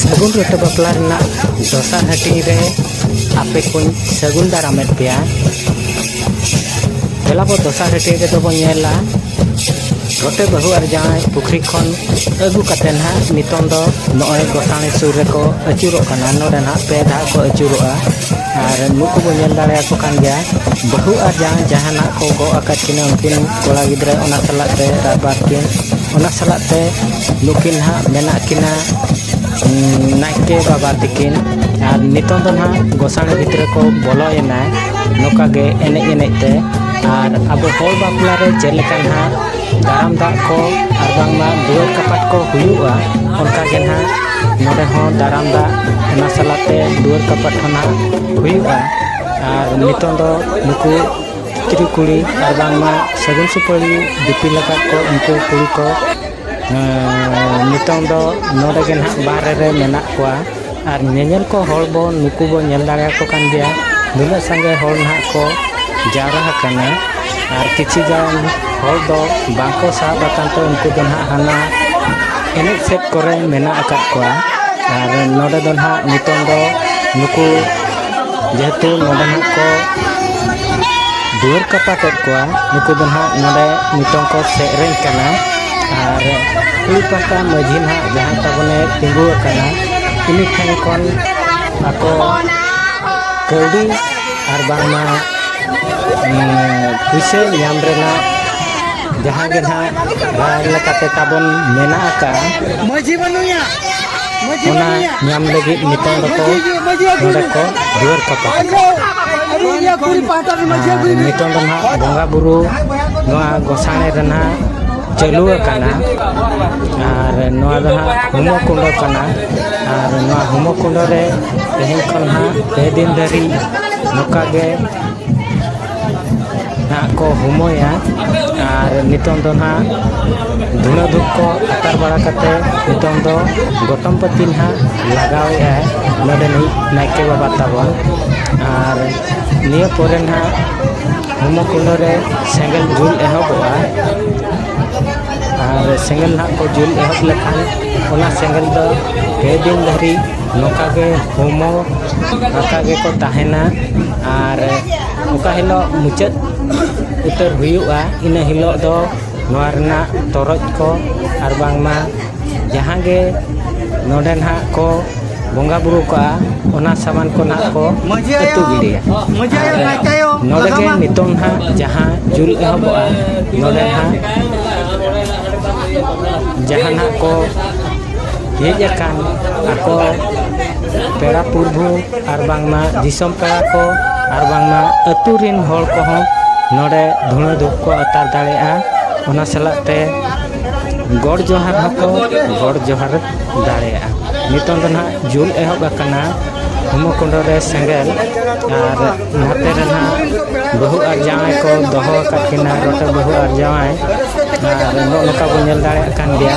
ᱥᱟᱹᱜᱩᱱ ᱨᱚᱛᱚ ᱵᱟᱯᱞᱟ ᱨᱮᱱᱟᱜ ᱫᱚᱥᱟᱨ ᱦᱟᱹᱴᱤᱧ ᱨᱮ ᱟᱯᱮ ᱠᱚᱧ ᱥᱟᱹᱜᱩᱱ ᱫᱟᱨᱟᱢᱮᱫ ᱯᱮᱭᱟ ᱫᱮᱞᱟ ᱵᱚ ᱫᱚᱥᱟᱨ ᱦᱟᱹᱴᱤᱧ ᱨᱮᱫᱚ ᱵᱚ ᱧᱮᱞᱟ ᱨᱚᱴᱮ ᱵᱟᱹᱦᱩ ᱟᱨ ᱡᱟᱶᱟᱭ ᱯᱩᱠᱷᱨᱤ ᱠᱷᱚᱱ ᱟᱹᱜᱩ ᱠᱟᱛᱮ ᱱᱟᱦᱟᱜ ᱱᱤᱛᱚᱝ ᱫᱚ ᱱᱚᱜᱼᱚᱭ ᱜᱚᱥᱟᱬᱮ ᱥᱩᱨ ᱨᱮᱠᱚ ᱟᱹᱪᱩᱨᱚᱜ ᱠᱟᱱᱟ ᱱᱚᱰᱮ ᱱᱟᱦᱟᱜ ᱯᱮ ᱫᱷᱟᱣ ᱠᱚ ᱟᱹᱪᱩᱨᱚᱜᱼᱟ ᱟᱨ ᱱᱩᱠᱩ ᱵᱚᱱ ᱧᱮᱞ ᱫᱟᱲᱮᱭᱟᱠᱚ ᱠᱟᱱ ᱜᱮᱭᱟ ᱵᱟᱹᱦᱩ ᱟᱨ ᱡᱟᱶᱟᱭ ᱡᱟᱦᱟᱱᱟᱜ ᱠᱚ ᱜᱚᱜ ᱟᱠᱟᱫ ᱠᱤᱱᱟᱹ ᱩᱱᱠᱤᱱ ᱠᱚᱲᱟ ᱜᱤᱫᱽᱨᱟᱹ ᱚᱱᱟ ᱥᱟᱞᱟᱜ ᱛᱮ ᱨᱟᱭᱵᱟᱨ ᱠᱤᱱ ᱚᱱᱟ ᱥᱟᱞᱟᱜ ᱛᱮ ᱱᱩᱠᱤᱱ ᱦᱟᱸᱜ ᱢᱮᱱᱟᱜ ᱠᱤᱱᱟ ᱱᱟᱭᱠᱮ ᱵᱟᱵᱟ ᱛᱟᱹᱠᱤᱱ ᱟᱨ ᱱᱤᱛᱚᱝ ᱫᱚ ᱱᱟᱦᱟᱜ ᱜᱚᱥᱟᱬᱮ ᱵᱷᱤᱛᱨᱤ ᱠᱚ ᱵᱚᱞᱚᱭᱮᱱᱟ ᱱᱚᱝᱠᱟ ᱜᱮ ᱮᱱᱮᱡ ᱮᱱᱮᱡ ᱛᱮ ᱟᱨ ᱟᱵᱚ ᱦᱚᱲ ᱵᱟᱯᱞᱟ ᱨᱮ ᱪᱮᱫ ᱞᱮᱠᱟ ᱱᱟᱦᱟᱜ ᱫᱟᱨᱟᱢ ᱫᱟᱜ ᱠᱚ ᱟᱨ ᱵᱟᱝᱢᱟ ᱫᱩᱣᱟᱹᱨ ᱠᱟᱯᱟᱴ ᱠᱚ ᱦᱩᱭᱩᱜᱼᱟ ᱚᱱᱠᱟ ᱜᱮ ᱱᱟᱦᱟᱜ ᱱᱚᱰᱮ ᱦᱚᱸ ᱫᱟᱨᱟᱢ ᱫᱟᱜ ᱚᱱᱟ ᱥᱟᱞᱟᱜ ᱛᱮ ᱫᱩᱣᱟᱹᱨ ᱠᱟᱯᱟᱴ ᱦᱚᱸ ᱱᱟᱦᱟᱜ ᱦᱩᱭᱩᱜᱼᱟ ᱟᱨ ᱱᱤᱛᱚᱝ ᱫᱚ ᱱᱩᱠᱩ ᱛᱤᱨᱤ ᱠᱩᱲᱤ ᱟᱨ ᱵᱟᱝᱢᱟ ᱥᱟᱹᱜᱩᱱ ᱥᱩᱯᱟᱹᱲᱤ ᱫᱤᱯᱤᱞ ᱟᱠᱟᱫ ᱠᱚ ᱩᱱᱠᱩ ᱠᱩᱲᱤ ᱠᱚ ᱱᱤᱛᱚᱝ ᱫᱚ ᱱᱚᱰᱮ ᱜᱮ ᱱᱟᱦᱟᱜ ᱵᱟᱦᱨᱮ ᱨᱮ ᱢᱮᱱᱟᱜ ᱠᱚᱣᱟ ᱟᱨ ᱧᱮᱧᱮᱞ ᱠᱚ ᱦᱚᱲ ᱵᱚ ᱱᱩᱠᱩ ᱵᱚ ᱧᱮᱞ ᱫᱟᱲᱮᱭᱟᱠᱚ ᱠᱟᱱ ᱜᱮᱭᱟ ᱱᱩᱱᱟᱹᱜ ᱥᱟᱸᱜᱮ ᱦᱚᱲ ᱱᱟᱦᱟᱜ ᱠᱚ ᱡᱟᱣᱨᱟ ᱟᱠᱟᱱᱟ ᱟᱨ ᱠᱤᱪᱷᱩ ᱜᱟᱱ ᱦᱚᱲ ᱫᱚ ᱵᱟᱝ ᱠᱚ ᱥᱟᱦᱚᱵ ᱟᱠᱟᱱ ᱛᱮ ᱩᱱᱠᱩ ᱫᱚ ᱱᱟᱦᱟᱜ ᱦᱟᱱᱟ ᱮᱱᱮᱡ ᱥᱮᱫ ᱠᱚᱨᱮ ᱢᱮᱱᱟᱜ ᱟᱠᱟᱫ ᱠᱚᱣᱟ ᱟᱨ ᱱᱚᱰᱮ ᱫᱚ ᱱᱟᱦᱟᱜ ᱱᱤᱛᱚᱝ ᱫᱚ ᱱᱩᱠᱩ ᱡᱮᱦᱮᱛᱩ ᱱᱚᱰᱮ ᱦᱟᱸᱜ ᱠᱚ ᱫᱩᱣᱟᱹᱨ ᱠᱟᱯᱟ ᱠᱮᱫ ᱠᱚᱣᱟ ᱱᱩᱠᱩ ᱫᱚ ᱦᱟᱸᱜ ᱱᱚᱰᱮ ᱱᱤᱛᱚᱝ ᱠᱚ ᱥᱮᱨᱮᱧ ᱠᱟᱱᱟ ᱟᱨ ᱠᱩᱲᱤ ᱯᱟᱦᱴᱟ ᱢᱟᱺᱡᱷᱤ ᱦᱟᱸᱜ ᱡᱟᱦᱟᱸᱭ ᱛᱟᱵᱚᱱᱮ ᱛᱤᱸᱜᱩ ᱟᱠᱟᱱᱟ ᱩᱱᱤ ᱴᱷᱮᱱ ᱠᱷᱚᱱ ᱟᱠᱚ ᱠᱟᱹᱣᱰᱤ ᱟᱨ ᱵᱟᱝᱢᱟ ᱯᱩᱭᱥᱟᱹ ᱧᱟᱢ ᱨᱮᱱᱟᱜ ᱡᱟᱦᱟᱸ ᱜᱮ ᱦᱟᱸᱜ ᱨᱟᱭ ᱞᱮᱠᱟᱛᱮ ᱛᱟᱵᱚᱱ ᱢᱮᱱᱟᱜ ᱟᱠᱟᱜᱼᱟ ᱢᱟᱺᱡᱷᱤ ᱵᱟᱹᱱᱩᱭᱟ ᱚᱱᱟ ᱧᱟᱢ ᱞᱟᱹᱜᱤᱫ ᱱᱤᱛᱚᱝ ᱫᱚᱠᱚ ᱱᱚᱰᱮ ᱠᱚ ᱫᱩᱣᱟᱹᱨ ᱠᱟᱯᱟ ᱱᱤᱛᱚᱝ ᱫᱚ ᱱᱟᱦᱟᱜ ᱵᱚᱸᱜᱟ ᱵᱩᱨᱩ ᱱᱚᱣᱟ ᱜᱚᱥᱟᱬᱮ ᱨᱮ ᱱᱟᱦᱟᱜ ᱪᱟᱹᱞᱩ ᱟᱠᱟᱱᱟ ᱟᱨ ᱱᱚᱣᱟ ᱫᱚ ᱦᱟᱸᱜ ᱦᱩᱢᱚ ᱠᱩᱸᱰᱚ ᱠᱟᱱᱟ ᱟᱨ ᱱᱚᱣᱟ ᱦᱩᱢᱚ ᱠᱩᱸᱰᱚ ᱨᱮ ᱛᱮᱦᱮᱧ ᱠᱷᱚᱱ ᱦᱟᱸᱜ ᱯᱮ ᱫᱤᱱ ᱫᱷᱟᱹᱨᱤᱡ ᱱᱚᱝᱠᱟ ᱜᱮ ᱱᱟᱦᱟᱜ ᱠᱚ ᱦᱩᱢᱟᱹᱭᱟ ᱟᱨ ᱱᱤᱛᱚᱝ ᱫᱚ ᱱᱟᱦᱟᱜ ᱫᱷᱩᱬᱟᱹ ᱫᱷᱩᱯ ᱠᱚ ᱟᱛᱟᱨ ᱵᱟᱲᱟ ᱠᱟᱛᱮ ᱱᱤᱛᱚᱝ ᱫᱚ ᱜᱚᱛᱚᱢ ᱯᱟᱹᱛᱤ ᱱᱟᱦᱟᱜ ᱞᱟᱜᱟᱣᱮᱫᱼᱟᱭ ᱱᱚᱰᱮ ᱱᱤᱡ ᱱᱟᱭᱠᱮ ᱵᱟᱵᱟ ᱛᱟᱵᱚᱱ ᱟᱨ ᱱᱤᱭᱟᱹ ᱯᱚᱨᱮ ᱱᱟᱦᱟᱜ ᱦᱚᱢᱚ ᱠᱩᱸᱰᱟᱹ ᱨᱮ ᱥᱮᱸᱜᱮᱞ ᱡᱩᱞ ᱮᱦᱚᱵᱚᱜᱼᱟ ᱟᱨ ᱥᱮᱸᱜᱮᱞ ᱱᱟᱦᱟᱜ ᱠᱚ ᱡᱩᱞ ᱮᱦᱚᱵ ᱞᱮᱠᱷᱟᱱ ᱚᱱᱟ ᱥᱮᱸᱜᱮᱞ ᱫᱚ ᱯᱮ ᱫᱤᱱ ᱫᱷᱟᱹᱨᱤᱡ ᱱᱚᱝᱠᱟ ᱜᱮ ᱦᱚᱲᱢᱚ ᱱᱚᱝᱠᱟ ᱜᱮᱠᱚ ᱛᱟᱦᱮᱱᱟ ᱟᱨ ᱚᱠᱟ ᱦᱤᱞᱳᱜ ᱢᱩᱪᱟᱹᱫ ᱩᱛᱟᱹᱨ ᱦᱩᱭᱩᱜᱼᱟ ᱤᱱᱟᱹ ᱦᱤᱞᱳᱜ ᱫᱚ ᱱᱚᱣᱟ ᱨᱮᱱᱟᱜ ᱛᱚᱨᱚᱡ ᱠᱚ ᱟᱨ ᱵᱟᱝᱢᱟ ᱡᱟᱦᱟᱸ ᱜᱮ ᱱᱚᱰᱮ ᱱᱟᱦᱟᱜ ᱠᱚ ᱵᱚᱸᱜᱟ ᱵᱩᱨᱩ ᱠᱚᱜᱼᱟ ᱚᱱᱟ ᱥᱟᱢᱟᱱ ᱠᱚ ᱱᱟᱦᱟᱜ ᱠᱚ ᱟᱹᱛᱩ ᱜᱤᱰᱤᱭᱟ ᱟᱨ ᱱᱚᱰᱮ ᱜᱮ ᱱᱤᱛᱚᱝ ᱱᱟᱦᱟᱜ ᱡᱟᱦᱟᱸ ᱡᱩᱞ ᱮᱦᱚᱵᱚᱜᱼᱟ ᱱᱚᱰᱮ ᱱᱟᱦᱟᱜ ᱡᱟᱦᱟᱱᱟᱜ ᱠᱚ ᱦᱮᱡ ᱟᱠᱟᱱ ᱟᱠᱚ ᱯᱮᱲᱟ ᱯᱩᱨᱵᱷᱩ ᱟᱨ ᱵᱟᱝᱢᱟ ᱫᱤᱥᱚᱢ ᱯᱮᱲᱟ ᱠᱚ ᱟᱨ ᱵᱟᱝᱢᱟ ᱟᱹᱛᱩ ᱨᱤᱱ ᱦᱚᱲ ᱠᱚᱦᱚᱸ ᱱᱚᱰᱮ ᱫᱷᱩᱬᱟᱹ ᱫᱷᱩᱯ ᱠᱚ ᱟᱛᱟᱨ ᱫᱟᱲᱮᱭᱟᱜᱼᱟ ᱚᱱᱟ ᱥᱟᱞᱟᱜ ᱛᱮ ᱜᱚᱰ ᱡᱚᱦᱟᱨ ᱦᱚᱸᱠᱚ ᱜᱚᱰ ᱡᱚᱦᱟᱨ ᱫᱟᱲᱮᱭᱟᱜᱼᱟ ᱱᱤᱛᱚᱝ ᱫᱚ ᱱᱟᱦᱟᱜ ᱡᱩᱞ ᱮᱦᱚᱵ ᱟᱠᱟᱱᱟ ᱦᱳᱢᱳ ᱠᱩᱸᱰᱚ ᱨᱮ ᱥᱮᱸᱜᱮᱞ ᱟᱨ ᱱᱟᱛᱮ ᱨᱮ ᱱᱟᱦᱟᱜ ᱵᱟᱹᱦᱩ ᱟᱨ ᱡᱟᱶᱟᱭ ᱠᱚ ᱫᱚᱦᱚ ᱟᱠᱟᱫ ᱠᱤᱱᱟ ᱨᱚᱴᱮ ᱵᱟᱹᱦᱩ ᱟᱨ ᱡᱟᱶᱟᱭ ᱟᱨ ᱱᱚᱜᱼᱚ ᱱᱚᱝᱠᱟ ᱵᱚᱱ ᱧᱮᱞ ᱫᱟᱲᱮᱭᱟᱜ ᱠᱟᱱ ᱜᱮᱭᱟ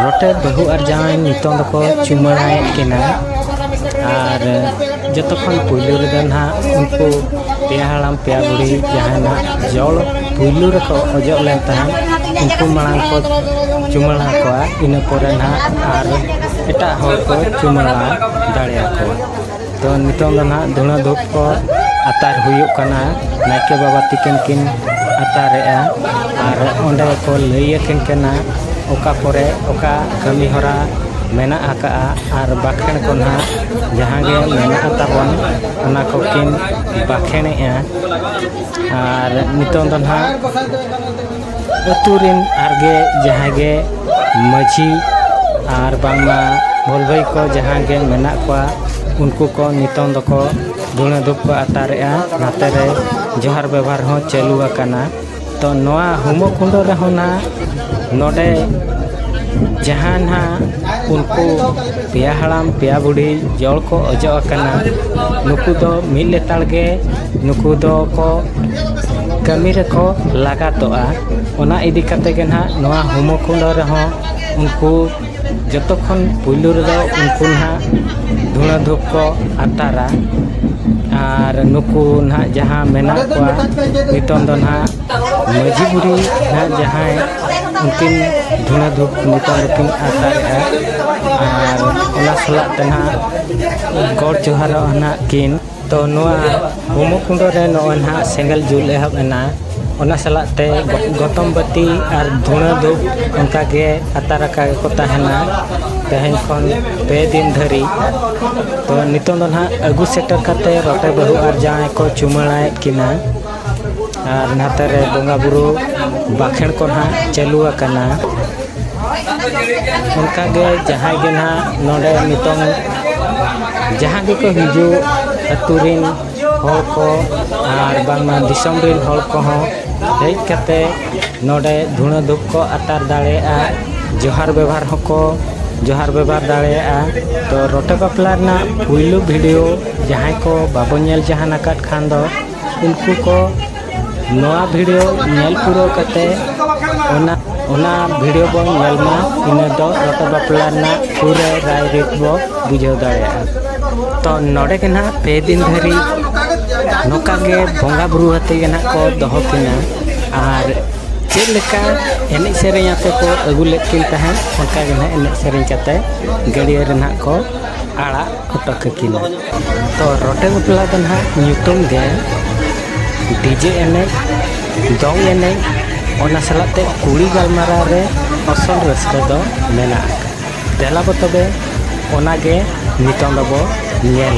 ᱨᱚᱴᱮ ᱵᱟᱹᱦᱩ ᱟᱨ ᱡᱟᱶᱟᱭ ᱱᱤᱛᱚᱝ ᱫᱚᱠᱚ ᱪᱩᱢᱟᱹᱲᱟᱭᱮᱫ ᱠᱤᱱᱟ ᱟᱨ ᱡᱚᱛᱚ ᱠᱷᱚᱱ ᱯᱩᱭᱞᱩ ᱨᱮᱫᱚ ᱱᱟᱦᱟᱜ ᱩᱱᱠᱩ ᱯᱮᱭᱟ ᱦᱟᱲᱟᱢ ᱯᱮᱭᱟ ᱵᱩᱲᱦᱤ ᱡᱟᱦᱟᱸᱭ ᱱᱟᱦᱟᱜ ᱡᱚᱞ ᱯᱩᱭᱞᱩ ᱨᱮᱠᱚ ᱚᱡᱚᱜ ᱞᱮᱱ ᱛᱟᱦᱮᱸᱫ ᱩᱱᱠᱩ ᱢᱟᱲᱟᱝ ᱠᱚ ᱪᱩᱢᱟᱹᱲᱟ ᱠᱚᱣᱟ ᱤᱱᱟᱹ ᱯᱚᱨᱮ ᱱᱟᱦᱟᱜ ᱟᱨ ᱮᱴᱟᱜ ᱦᱚᱲ ᱠᱚ ᱪᱩᱢᱟᱹᱲᱟ ᱫᱟᱲᱮᱭᱟᱠᱚᱣᱟ ᱛᱚ ᱱᱤᱛᱚᱝ ᱫᱚ ᱱᱟᱦᱟᱜ ᱫᱷᱩᱬᱟᱹ ᱫᱷᱩᱯ ᱠᱚ ᱟᱛᱟᱨ ᱦᱩᱭᱩᱜ ᱠᱟᱱᱟ ᱱᱟᱭᱠᱮ ᱵᱟᱵᱟ ᱛᱤᱠᱤᱱ ᱠᱤᱱ ᱟᱛᱟᱨᱮᱜᱼᱟ ᱟᱨ ᱚᱸᱰᱮ ᱠᱚ ᱞᱟᱹᱭ ᱟᱹᱠᱤᱱ ᱠᱟᱱᱟ ᱚᱠᱟ ᱠᱚᱨᱮ ᱚᱠᱟ ᱠᱟᱹᱢᱤ ᱦᱚᱨᱟ ᱢᱮᱱᱟᱜ ᱟᱠᱟᱜᱼᱟ ᱟᱨ ᱵᱟᱠᱷᱮᱬ ᱠᱚ ᱱᱟᱦᱟᱜ ᱡᱟᱦᱟᱸ ᱜᱮ ᱢᱮᱱᱟᱜ ᱛᱟᱵᱚᱱ ᱚᱱᱟ ᱠᱚ ᱠᱤᱱ ᱵᱟᱠᱷᱮᱬᱮᱜᱼᱟ ᱟᱨ ᱱᱤᱛᱚᱝ ᱫᱚ ᱱᱟᱦᱟᱜ ᱟᱹᱛᱩ ᱨᱮᱱ ᱟᱨ ᱜᱮ ᱡᱟᱦᱟᱸᱭ ᱜᱮ ᱢᱟᱺᱡᱷᱤ ᱟᱨ ᱵᱟᱝᱢᱟ ᱵᱷᱚᱞᱵᱷᱟᱹᱭ ᱠᱚ ᱡᱟᱦᱟᱸ ᱜᱮ ᱢᱮᱱᱟᱜ ᱠᱚᱣᱟ ᱩᱱᱠᱩ ᱠᱚ ᱱᱤᱛᱚᱝ ᱫᱚᱠᱚ ᱫᱷᱩᱬᱟᱹ ᱫᱷᱩᱯ ᱠᱚ ᱟᱛᱟᱨᱮᱜᱼᱟ ᱱᱟᱛᱮ ᱨᱮ ᱡᱚᱦᱟᱨ ᱵᱮᱵᱚᱦᱟᱨ ᱦᱚᱸ ᱪᱟᱹᱞᱩ ᱟᱠᱟᱱᱟ ᱛᱚ ᱱᱚᱣᱟ ᱦᱳᱢᱳ ᱠᱩᱸᱰᱚ ᱨᱮᱦᱚᱸ ᱱᱟᱜ ᱱᱚᱰᱮ ᱡᱟᱦᱟᱸ ᱱᱟᱜ ᱩᱱᱠᱩ ᱯᱮᱭᱟ ᱦᱟᱲᱟᱢ ᱯᱮᱭᱟ ᱵᱩᱰᱷᱤ ᱡᱚᱲ ᱠᱚ ᱚᱡᱚᱜ ᱟᱠᱟᱱᱟ ᱱᱩᱠᱩ ᱫᱚ ᱢᱤᱫ ᱞᱮᱛᱟᱲ ᱜᱮ ᱱᱩᱠᱩ ᱫᱚᱠᱚ ᱠᱟᱹᱢᱤ ᱨᱮᱠᱚ ᱞᱟᱜᱟᱛᱚᱜᱼᱟ ᱚᱱᱟ ᱤᱫᱤ ᱠᱟᱛᱮ ᱜᱮ ᱱᱟᱦᱟᱜ ᱱᱚᱣᱟ ᱦᱳᱢᱳ ᱠᱩᱸᱰᱚ ᱨᱮᱦᱚᱸ ᱩᱱᱠᱩ ᱡᱚᱛᱚ ᱠᱷᱚᱱ ᱯᱩᱭᱞᱩ ᱨᱮᱫᱚ ᱩᱱᱠᱩ ᱱᱟᱦᱟᱜ ᱫᱷᱩᱬᱟᱹ ᱫᱷᱩᱯ ᱠᱚ ᱟᱛᱟᱨᱟ ᱟᱨ ᱱᱩᱠᱩ ᱱᱟᱦᱟᱜ ᱡᱟᱦᱟᱸ ᱢᱮᱱᱟᱜ ᱠᱚᱣᱟ ᱱᱤᱛᱚᱝ ᱫᱚ ᱱᱟᱦᱟᱜ ᱢᱟᱹᱡᱷᱤ ᱵᱩᱲᱦᱤ ᱱᱟᱦᱟᱜ ᱡᱟᱦᱟᱸᱭ ᱩᱱᱠᱤᱱ ᱫᱷᱩᱬᱟᱹ ᱫᱷᱩᱯ ᱱᱤᱛᱚᱝ ᱫᱚᱠᱤᱱ ᱟᱛᱟᱨᱮᱜᱼᱟ ᱟᱨ ᱚᱱᱟ ᱥᱟᱞᱟᱜ ᱛᱮ ᱱᱟᱦᱟᱜ ᱜᱚᱰ ᱡᱚᱦᱟᱨᱚᱜᱼᱟ ᱱᱟᱦᱟᱜ ᱠᱤᱱ ᱛᱚ ᱱᱚᱣᱟ ᱦᱳᱢᱚᱠᱩᱸᱰᱚ ᱨᱮ ᱱᱚᱜᱼᱚᱭ ᱱᱟᱦᱟᱜ ᱥᱮᱸᱜᱮᱞ ᱡᱩᱞ ᱮᱦᱚᱵ ᱮᱱᱟ ᱚᱱᱟ ᱥᱟᱞᱟᱜ ᱛᱮ ᱜᱚᱛᱚᱢ ᱵᱟᱹᱛᱤ ᱟᱨ ᱫᱷᱩᱬᱟᱹ ᱫᱷᱩᱯ ᱚᱱᱠᱟ ᱜᱮ ᱟᱛᱟᱨ ᱟᱠᱟ ᱜᱮᱠᱚ ᱛᱟᱦᱮᱱᱟ ᱛᱮᱦᱮᱧ ᱠᱷᱚᱱ ᱯᱮ ᱫᱤᱱ ᱫᱷᱟᱹᱨᱤᱡ ᱛᱚ ᱱᱤᱛᱚᱝ ᱫᱚ ᱱᱟᱦᱟᱜ ᱟᱹᱜᱩ ᱥᱮᱴᱮᱨ ᱠᱟᱛᱮᱫ ᱨᱚᱴᱮ ᱵᱟᱹᱦᱩ ᱟᱨ ᱡᱟᱶᱟᱭ ᱠᱚ ᱪᱩᱢᱟᱹᱲᱟᱭᱮᱫ ᱠᱤᱱᱟ ᱟᱨ ᱱᱟᱛᱮ ᱨᱮ ᱵᱚᱸᱜᱟ ᱵᱩᱨᱩ ᱵᱟᱠᱷᱮᱲ ᱠᱚ ᱱᱟᱦᱟᱜ ᱪᱟᱹᱞᱩ ᱟᱠᱟᱱᱟ ᱚᱱᱠᱟ ᱜᱮ ᱡᱟᱦᱟᱸᱭ ᱜᱮ ᱱᱟᱦᱟᱜ ᱱᱚᱰᱮ ᱱᱤᱛᱚᱝ ᱡᱟᱦᱟᱸ ᱜᱮᱠᱚ ᱦᱤᱡᱩᱜ ᱟᱹᱛᱩ ᱨᱤᱱ ᱦᱚᱲ ᱠᱚ ᱟᱨ ᱵᱟᱝᱢᱟ ᱫᱤᱥᱚᱢ ᱨᱤᱱ ᱦᱚᱲ ᱠᱚᱦᱚᱸ ᱦᱮᱡ ᱠᱟᱛᱮ ᱱᱚᱰᱮ ᱫᱷᱩᱬᱟᱹ ᱫᱷᱩᱯ ᱠᱚ ᱟᱛᱟᱨ ᱫᱟᱲᱮᱭᱟᱜᱼᱟ ᱡᱚᱦᱟᱨ ᱵᱮᱵᱷᱟᱨ ᱦᱚᱸᱠᱚ ᱡᱚᱦᱟᱨ ᱵᱮᱵᱷᱟᱨ ᱫᱟᱲᱮᱭᱟᱜᱼᱟ ᱛᱚ ᱨᱚᱴᱮ ᱵᱟᱯᱞᱟ ᱨᱮᱱᱟᱜ ᱯᱩᱭᱞᱩ ᱵᱷᱤᱰᱤᱭᱳ ᱡᱟᱦᱟᱸᱭ ᱠᱚ ᱵᱟᱵᱚ ᱧᱮᱞ ᱡᱟᱦᱟᱱ ᱟᱠᱟᱫ ᱠᱷᱟᱱ ᱫᱚ ᱩᱱᱠᱩ ᱠᱚ ᱱᱚᱣᱟ ᱵᱷᱤᱰᱤᱭᱳ ᱧᱮᱞ ᱯᱩᱨᱟᱹᱣ ᱠᱟᱛᱮ ᱚᱱᱟ ᱚᱱᱟ ᱵᱷᱤᱰᱤᱭᱳ ᱵᱚᱱ ᱧᱮᱞ ᱢᱟ ᱤᱱᱟᱹ ᱫᱚ ᱨᱚᱴᱚ ᱵᱟᱯᱞᱟ ᱨᱮᱱᱟᱜ ᱯᱩᱨᱟᱹ ᱨᱟᱭ ᱨᱤᱛ ᱵᱚ ᱵᱩᱡᱷᱟᱹᱣ ᱫᱟᱲᱮᱭᱟᱜᱼᱟ ᱛᱚ ᱱᱚᱰᱮ ᱜᱮ ᱱᱟᱦᱟᱜ ᱯᱮ ᱫᱤᱱ ᱫᱷᱟᱹᱨᱤᱡ ᱱᱚᱝᱠᱟ ᱜᱮ ᱵᱚᱸᱜᱟ ᱵᱩᱨᱩ ᱟᱛᱮ ᱜᱮ ᱱᱟᱦᱟᱜ ᱠᱚ ᱫᱚᱦᱚ ᱠᱤᱱᱟ ᱟᱨ ᱪᱮᱫ ᱞᱮᱠᱟ ᱮᱱᱮᱡ ᱥᱮᱨᱮᱧ ᱟᱛᱮ ᱠᱚ ᱟᱹᱜᱩ ᱞᱮᱫ ᱠᱤᱱ ᱛᱟᱦᱮᱸᱫ ᱚᱱᱠᱟ ᱜᱮ ᱱᱟᱦᱟᱜ ᱮᱱᱮᱡ ᱥᱮᱨᱮᱧ ᱠᱟᱛᱮ ᱜᱟᱹᱰᱭᱟᱹ ᱨᱮ ᱱᱟᱦᱟᱜ ᱠᱚ ᱟᱲᱟᱜ ᱠᱚᱴᱚᱠ ᱠᱟᱹᱠᱤᱱᱟ ᱛᱚ ᱨᱚᱴᱮ ᱵᱟᱯᱞᱟ ᱫᱚ ᱱᱟᱦᱟᱜ ᱧᱩᱛᱩᱢ ᱜᱮ ᱰᱤᱡᱮ ᱮᱱᱮᱡ ᱫᱚᱝ ᱮᱱᱮᱡ ᱚᱱᱟ ᱥᱟᱞᱟᱜ ᱛᱮ ᱠᱩᱲᱤ ᱜᱟᱞᱢᱟᱨᱟᱣ ᱨᱮ ᱟᱥᱚᱞ ᱨᱟᱹᱥᱠᱟᱹ ᱫᱚ ᱢᱮᱱᱟᱜ ᱟᱠᱟᱫ ᱫᱮᱞᱟ ᱵᱚ ᱛᱚᱵᱮ ᱚᱱᱟᱜᱮ ᱱᱤᱛᱚᱝ ᱫᱚᱵᱚ ᱧᱮᱞ